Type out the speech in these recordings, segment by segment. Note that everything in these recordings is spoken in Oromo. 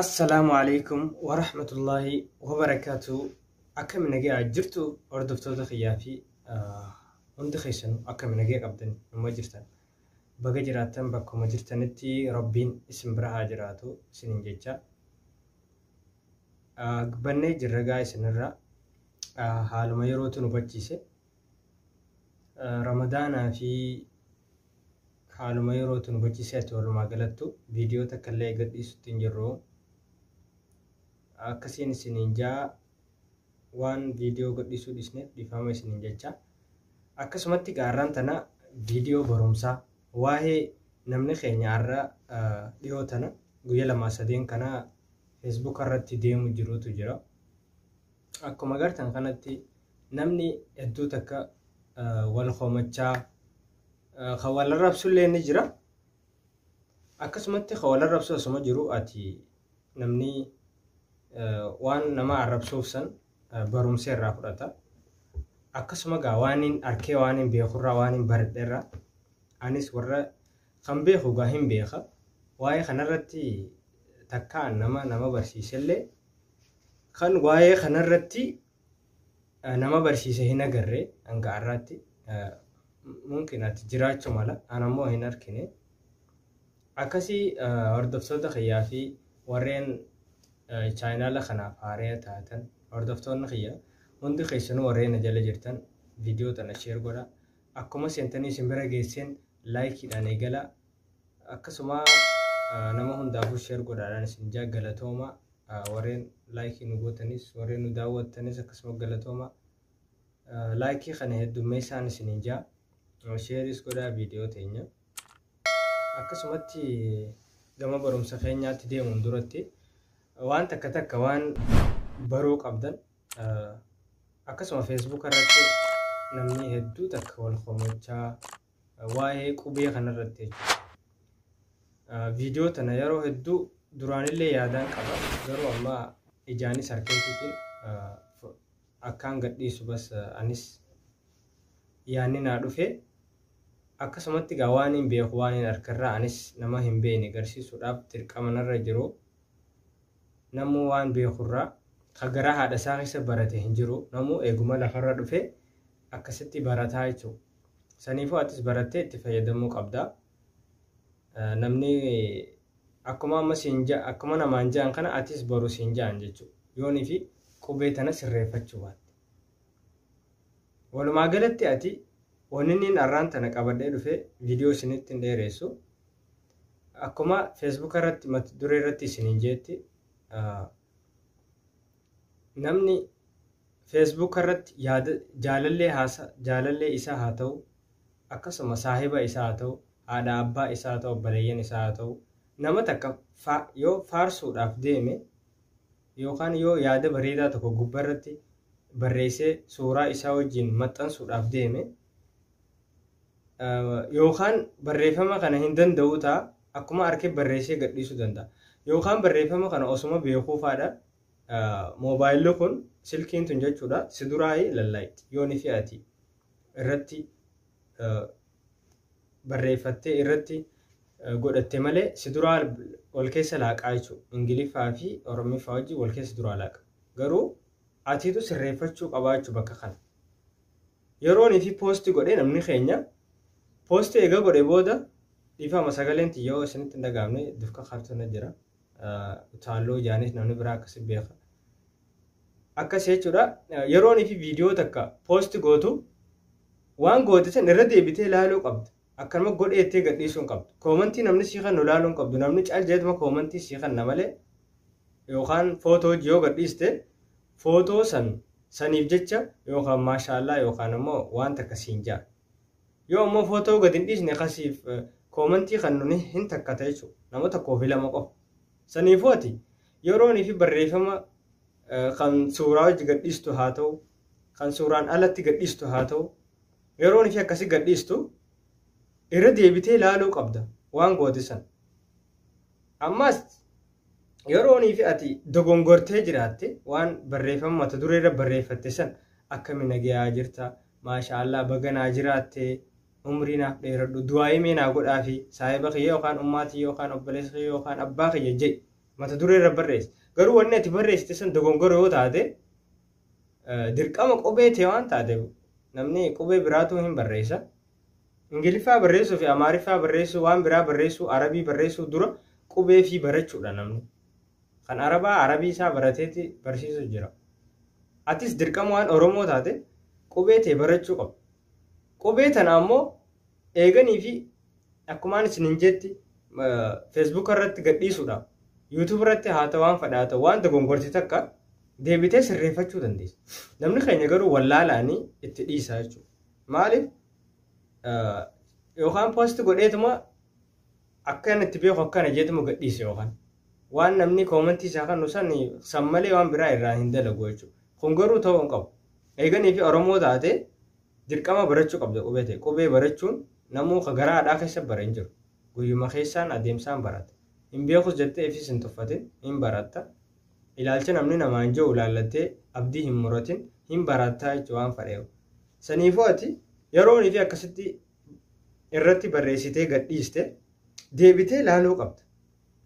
Assalaamu alaikum wa rahmatullahi wa barakaatu. Akkami nagaa jirtu hordoftoota kiyyaa fi hundi keessanu akkami nagaa qabdan nama jirtan. Baga jiraattan bakkuma jirtanitti rabbiin isin bira haa jiraatu isinin jecha. Bannee jirra gaa isinirra haaluma yerootu nu hubachiise. Ramadaanaa fi haaluma yerootu nu bachisee ati walumaa galattu viidiyoo takka illee gadhiisutti hin jirru. Akkasiin isiniin jaa waan viidiyoo gadhiisuu dhisneef dhiifama isiniin jecha. Akkasumatti gaarraan tana viidiyoo barumsaa waa'ee namni keenya har'a dhihoo tana guyya lamaa sadeen kana feesbuuka irratti deemu jirutu jira. Akkuma agartan kanatti namni hedduu takka wal komachaa kan wal arrabsu illee ni jira. Akkasumatti kan wal arrabsu asuma jiru ati namni waan nama arrabsuuf san barumsa irraa fudhata. Akkasuma gaa waan hin arkee waan hin beekurraa waan hin baradherraa anis warra Kan beeku egaa hin beeka. Waa'ee kanarratti takkaa nama nama barsiisellee kan waa'ee kanarratti nama barsiise hin agarre hanga har'aatti mumkin ati jiraachuu mala anammoo hin argine. Akkasii hordoftoota kiyyaa fi warreen chaayinaala kanaaf haaree taatan hordoftoonni kiyya hundi keessanuu warreen na jala jirtan viidiyoo tana sheer godha. Akkuma seentanii isin bira geesseen like dhaan eegala. Akkasuma nama hundaafuu share godhaadhaan isin jaa galatooma. Warreen like nu gootanis warreen nu daawwattanis akkasuma galatooma. Like kana heddummeessaan isin jaa. Shareis godhaa viidiyoo teenya. Akkasumatti gama barumsa keenyaatti deemuun duratti waan takka takka waan baruu qabdan Akkasuma Facebook irratti namni hedduu takka wal komachaa waa'ee qubee kanarratti jechuudha. Viidiyoo tana yeroo hedduu duraanillee yaadaan qaba garuu amma ijaanis harkeetiitiin akkaan gadhiisu bas anis yaanni naa dhufe akkasumatti gaa waan hin beeku waan hin harkarraa anis nama hin beekne garsiisuudhaaf dirqama narra jiru. Namuu waan beekurraa ka garaa haadha isaa keessa barate hin jiru. Namuu eeguma lafarra dhufee akkasitti barataa jechuudha. Saniifuu atis barattee itti fayyadamuu qabda. Namni akkuma amma siin ja'a akkuma namaan ja'an kana atis boru siin ja'an jechuudha. Yoonii fi qubee tana sirreeffachuu baatte. Walumaa galatti ati wanni inni har'aan tana qabadhee dhufee viidiyoo isinitti hin dheeressu. Akkuma Facebook irratti mata duree irratti isiniin jeetti namni Facebook irratti yaada jaalallee haasa jaalallee isaa haa ta'u akkasuma saahiba isaa haa ta'u haadha abbaa isaa haa ta'u obboleeyyan isaa haa ta'u nama takka fa- yoo faarsuudhaaf deeme yookaan yoo yaada bareedaa tokko gubbaa irratti barreessee suuraa isaa wajjin maxxansuudhaaf deeme Yookaan barreeffama kana hin danda'uu ta'a, akkuma arke barreessee gadhiisuu danda'a. Yookaan barreeffama kana osuma beekuu faadha moobaayilli kun silkiin tun jechuudha si duraayi lallaayitti yooni fi ati irratti barreeffattee irratti godhatte malee si duraa wal keessa laaqaa jechuudha. Ingiliffaa fi Oromiffaa wajjin wal keessa duraa laaqa. Garuu atiitu sirreeffachuu qabaa jechuudha bakka kana. Yeroon ifi post godhe namni keenya post eega godhe booda dhiifama sagaleen tiyya yoo isinitti hin dhagaamne dufka kaartu na jira utaalloo ijaanis namni biraa akkasi beeka akkas jechuudha yeroon ifi viidiyoo takka post gootu waan goote san irra deebitee ilaaluu qabda Akkanuma godhee jettee gadhiisuu hin qabdu. Koomantii namni sii kennu ilaaluu hin qabdu. Namni cal jedheetuma koomantii sii kenna malee yookaan footoo hojii yoo gadhiiste footoo san saniif jecha yookaan maashaallaa yookaan ammoo waan takka siin ja'a. Yoo ammoo footoo gad hin dhiisne kasiif koomantii kennu ni hin takkata jechuudha. Nama tokkoo fi lama qofa. Saniifuu ati yeroonii fi barreeffama kan suuraa hojii gadhiistu haa ta'u kan suuraan alatti gadhiistu haa ta'u Yeroon ishee akkasi gadhiistu irra deebitee laaluu qabda waan goote san. Ammas yeroonii fi ati dogongortee jiraatte waan barreeffama mata duree irra barreeffatte san akkami nagayaa jirta maashaallah baga naa jiraatte umrii naaf dheeradhu du'aa'ii mee naa godhaa fi saahiba kiyya yookaan ummaa tiyya yookaan obboleessa kiyya yookaan abbaa kiyya jedhi mata duree irra barreessi garuu wanni ati barreessite san dogongora yoo taate Dirqama qubee tee waan taateef namni qubee biraatuu hin barreessa. Ingiliffaa barreessuu fi Amaariffaa barreessuu waan biraa barreessuu Arabii barreessuu dura qubee fi barachuudha namni. Kan Arabaa Arabii isaa barateeti barsiisu jira. Atis dirqama waan Oromoo taate qubee tee barachuu qaba. Qubee tana ammoo eeganii fi akkumaan isin hin jetti feesbuuka irratti gadhiisuudha. Yuutuub irratti haa ta'u waan fadhaa ta'u waan dogongorti takka deebitee sirreeffachuu dandeessa. Namni keenya garuu wallaalaanii itti dhiisaa jechuudha. Maaliif yookaan poosti godheetuma akka inni itti beeku akkana jeetuma gadhiise yookaan waan namni koomantii isaa kan nusan san malee waan biraa irraa hin dalagu jechuudha. Kun garuu ta'uu hin qabu. Eeganii fi Oromoo taate dirqama barachuu qabda qubee ta'e. Qubee barachuun namuu ka garaa haadhaa keessa bara hin jiru. Guyyuma keessaan adeemsaan barata. Hin beekus jettee ifis hin tuffatin hin baratta. Ilaalcha namni namaan je'u ilaallattee abdii hin muratin, hin baraattaa jechu waan fadheehu. Saniifuu ati yeroo niitii akkasitti irratti barreessitee gad dhiiste deebitee laaluu qabda.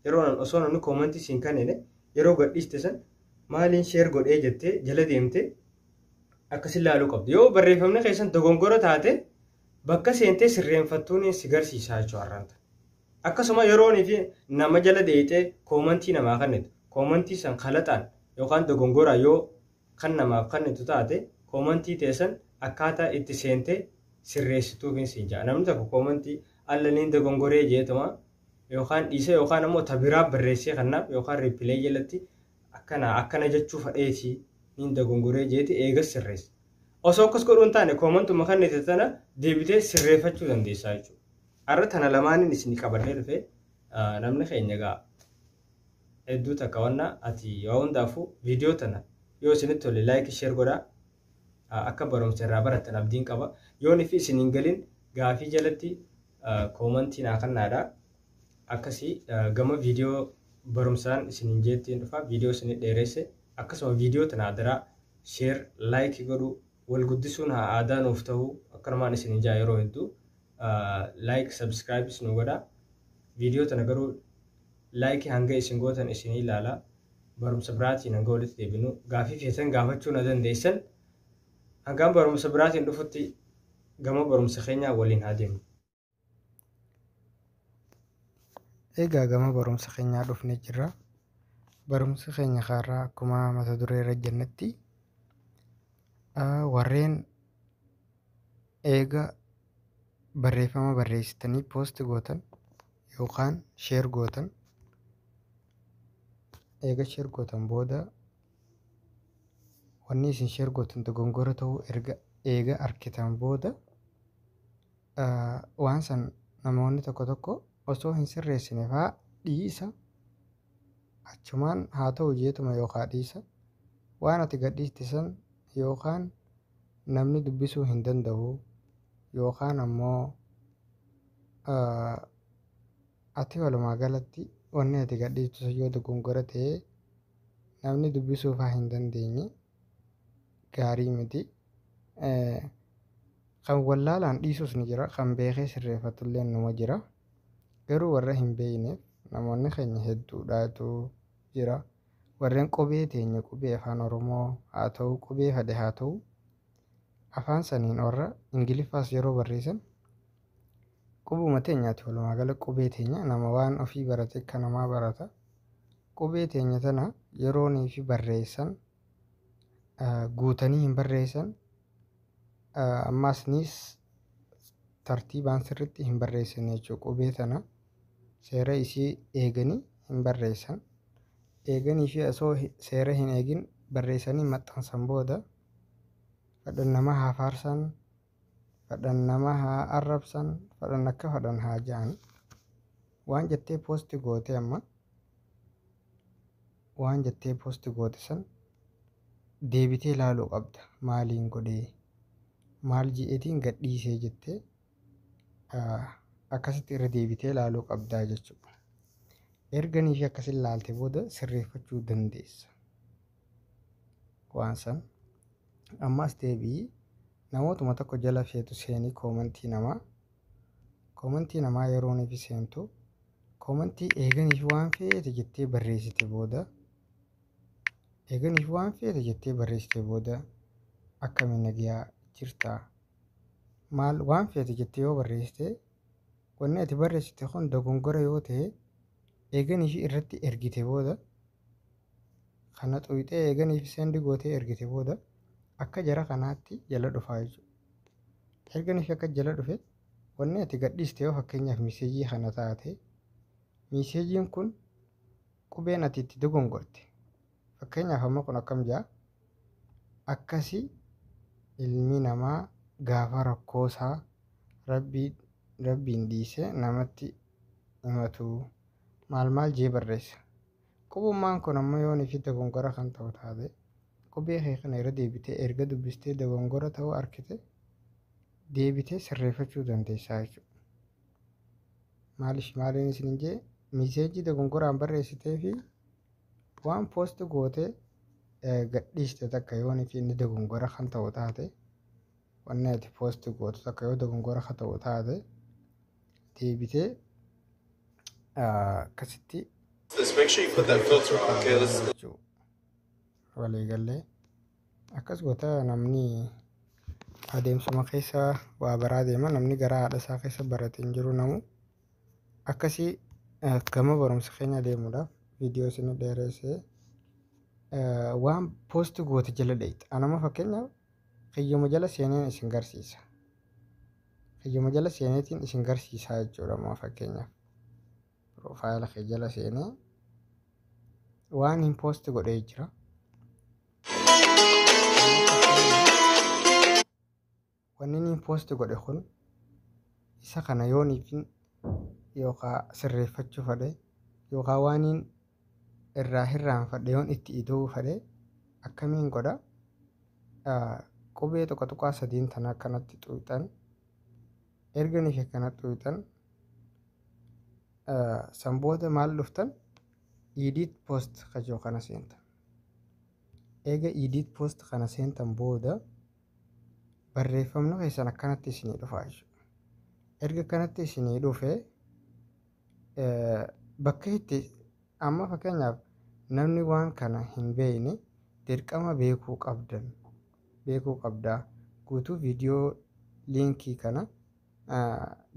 Yeroo nan osoo namni koomantii siin kannine yeroo gad dhiiste san maaliin sheer godhee jettee jala deemtee akkasin laaluu qabda. Yoo barreeffamni keessan dogongora taate bakka seentee sirreenfattuun si garsiisaa jechuu har'anta. Akkasuma yeroon fi nama jala deeyxee koomantii namaa kannitu koomantii san kalaxaan yookaan dogongoraan yoo kan namaaf kannitu taate koomantii tee san akkaataa itti seentee sirreessituufin siin ja'a namni tokko koomantii alla niin dogongoree jeetuma yookaan dhiisee yookaan ammoo ta biraa barreessee kannaaf yookaan riipilee jalatti akkana akkana jechuu fadheetii niin dogongoree jeeti eegas sirreessa osoo akkas godhuu hin taane koomantuma kannite tana deebitee sirreeffachuu dandeessaa jechuudha. Har'a tana lamaanin isinii qabadhee dhufe namni keenya egaa hedduu takka wanna ati waa hundaafuu viidiyoo tana yoo isinitti tole laayikii sheer godhaa akka barumsa irraa barattan abdiin qaba yoon ifi isin hin galin gaafii jalatti koomantii naa kannaadha akkasii gama viidiyoo barumsaan isin hin jeettiin dhufa viidiyoo isin dheeresse akkasuma viidiyoo tana adaraa sheer laayikii godhuu Wal guddisuun haa aadaa nuuf ta'u akkanumaan isinin ja'a yeroo hedduu like subscribes nu godha video tana garuu like hanga isin gootan isinii ilaala barumsa biraatiin hanga walitti deebinu gaafii feetan gaafachuu na dandeessan hangaan barumsa biraatiin dhufutti gama barumsa keenyaa waliin haa deemnu. Egaa gama barumsa keenyaa dhufnee jirra. Barumsi keenya kaarraa akkuma mata duree irra jennetti warreen eega barreeffama barreessitanii poost gootan yookaan sheer gootan eega sheer gootan booda wanni isin sheer gootan dogongora ta'uu erga eega argitan booda Waan san namoonni tokko tokko osoo hin sirreessine faa dhiisa achumaan haa ta'u jeetuma yookaa dhiisa waan ati gadhiiste san yookaan namni dubbisuu hin danda'u yookaan ammoo ati walumaa galatti wanni ati gadhiiftu sun yoo dogongora ta'e namni dubbisuu faa hin dandeenye gaarii miti. Kan wallaalaan dhiisus ni jira, kan beekee sirreeffatullee numa jira. Garuu warra hin beekneef namoonni keenya hedduudhaatu jira. Warreen qubee teenya qubee afaan Oromoo haa ta'u, qubee fade haa ta'u, afaan saniin warra Ingiliffaas yeroo barreessan qubuma teenyaati walumaa gala qubee teenya nama waan ofii barate akka namaa barata. Qubee teenya tana yeroonii fi barreessan guutanii hin barreessan ammaasnis tartiibaan sirritti hin barreessan jechuudha qubee tana seera isii eeganii hin barreessan eeganii fi osoo seera hin eegin barreessanii maxxansan booda kadhan nama haa faarsan Fadhan nama haa arrabsan fadhan akka fadhan haa ja'an waan jettee poosti goote amma waan jettee poosti goote san deebitee laaluu qabda maaliin godhee maal ji'eetiin gadhiisee jettee ah, akkasitti irra deebitee laaluu qabdaa jechuudha. Erga niifi akkasin laalte booda sirreeffachuu dandeessa. waan san ammaas deebi'i namootuma tokko jala feetu seenii koomantii namaa koomantii namaa yerooniif seentu koomantii eeganiif waan feete jettee barreessite booda eeganiif waan feete jettee barreessite booda akkamiin nagayaa jirtaa maal waan feete jettee yoo barreessite wanni ati barreessite kun dogongora yoo ta'e Eegan ishii irratti ergite booda kana xuyxee eegan ishii sendi gootee ergite booda akka jara kanaatti jala dhufaa jechuudha. Ergan ishii akka jala dhufe wanni ati gadhiiste yoo fakkeenyaaf miiseejii kana taate miiseejiin kun qubeen ati itti dogongorte Fakkeenyaaf amma kun akkam jaa akkasi ilmi namaa gaafa rakkoosaa rabbii rabbiin dhiisee namatti himatu maal maal jee barreessa. Qubummaan kun ammoo yoo nifi dogongora kan ta'u taate qubee kee kana irra deebitee erga dubbistee dogongora ta'uu arkite deebitee sirreeffachuu dandeessaa jechuudha. Maaliif maaliin isin hin jee miseejii dogongoraan barreessitee fi Waan post goote gadhiiste takka yoon fi inni dogongora kan ta'u taate wanni ati post gootu takka yoo dogongora kan ta'u taate deebitee akkasitti Just make sure you put that filter on, okay? Let's jechuu waliigallee akkas goota namni adeemsuma keessa waa baraa deema namni gara haadha isaa keessa barate hin jiru namu akkasii eh, gama barumsa keenya deemuudhaaf viidiyoo isin dheereessee eh, waan poosti goote jala dheeyta. Anama fakkeenyaaf kiyyuma jala seeneen isin garsiisa. Kiyyuma jala seeneetiin isin garsiisaa jechuudha amma fakkeenyaaf. Piroofaayila kee jala seenee waan hin poosti godhee jira. Wanni niin post godhe kun isa kana yooniifin yookaa sirreeffachuu fadhe yookaa waaniin irraa hirraanfadhe yoon itti ida'uu fadhe akkamiin godha qubee tuqa tuqaa sadiin tana akkanatti xuuxan erga niif akkana xuuxan san booda maal dhuftan edit post kajoo kana seentan eega edit post kana seentan booda barreeffamni keessan akkanatti isinii dhufa jechuudha. Erga akkanatti isinii dhufe bakka itti amma fakkeenyaaf namni waan kana hin beekne dirqama beekuu qabdan beekuu qabdaa guutuu viidiyoo liinkii kana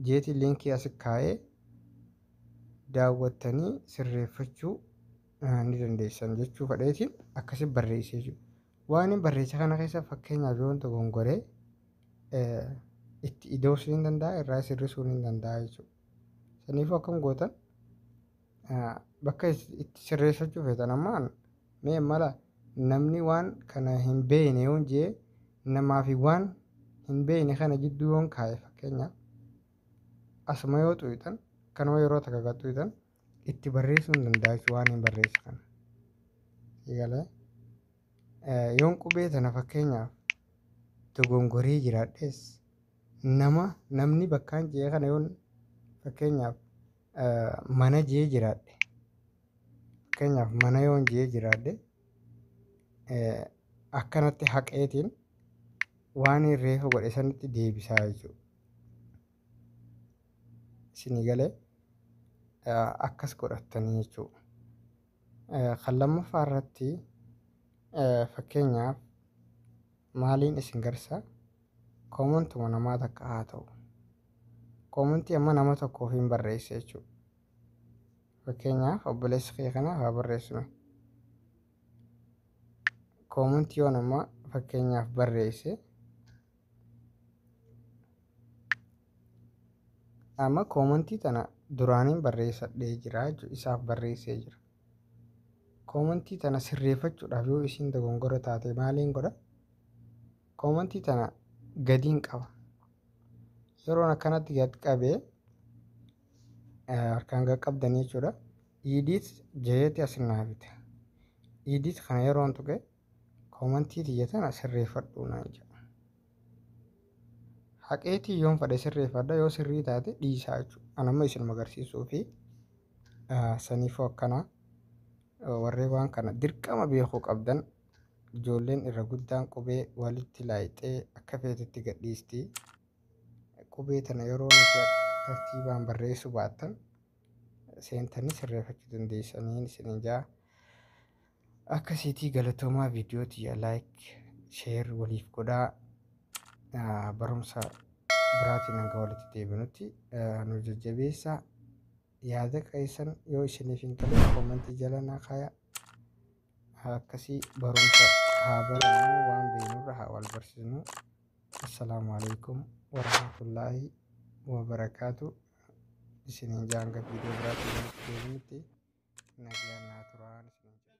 jeetii liinkii asi kaa'ee daawwattanii sirreeffachuu ni dandeessan jechuu fedheetiin akkasi barreessee jiru. Waanin barreesse kana keessa fakkeenyaaf yoon dogongore eh, itti ida'uus ni danda'a irraa sirrisuu ni danda'a jechuudha. Saniifuu akkam gootan eh, bakka is- itti sirreessachuu feetan ammaan mee mala namni waan kana hin beekne yoon jee namaa fi waan hin beekne kana jidduu yoon kaa'e fakkeenyaaf asuma yoo xuuxan kanuma yeroo takka kan xuuxan itti barreessuu hin danda'a jechuudha waan hin barreessu kana. Eegalee yoon qubee tana fakkeenyaaf dogongoree jiraadhes nama namni bakkaan jee kana yoon fakkeenyaaf mana jee jiraadhe fakkeenyaaf mana yoon jee jiraadhe akkanatti haqeetiin waan reefa godhe sanitti deebisaa jechuudha. isinii galee akkas godhattanii jechuu kan lammaffaa irratti fakkeenyaaf maaliin isin garsa koomantuma namaa takka haa ta'u koomantii amma nama tokkoof hin barreessa jechuu fakkeenyaaf obboleessi kee kanaaf haa barreessinu koomantii yoon amma fakkeenyaaf barreesse Amma koomantii tana duraaniin barreessadhee jira jechuudha. Isaaf barreessee jira. Koomantii tana sirreeffachuudhaaf yoo isiin dogongora taate maaliin godha? Koomantii tana gadiin qaba. Yeroon akkanatti gad qabee harkaan gad qabdanii jechuudha. Idiit jeeti asin naafita. Idiit kana yeroon tuqe Koomantii tiyya tana sirreeffadhu naan jedha. Haqeetii yoon fedhe sirreeffadha yoo sirrii taate dhiisaa jechuudha. An amma isinuma agarsiisuu fi saniifuu akkana warree waan kana dirqama beekuu qabdan ijoolleen irra guddaan qubee walitti laayixee akka feetetti gadhiisti. Qubee tana yeroo nuti tartiibaan barreessuu baattan seentanii sirreeffachuu dandeessanii isiniin jaa. Akkasiitii galatoomaa viidiyoo tiyya like share waliif godhaa Ah, barumsa biraatiin hanga walitti deebinutti ah, nu jajjabeessaa yaada keessan yoo isiniif hin galle koomentii jala naa kaayaa akkasii barumsa haa barannu waan beeknurra haa wal barsiisnu assalaamu alaikum warahmatullaahi wabarakaatu isiniin jaa hanga viidiyoo biraatiin walitti deebinutti nagaan naa turaa isiniin jenna.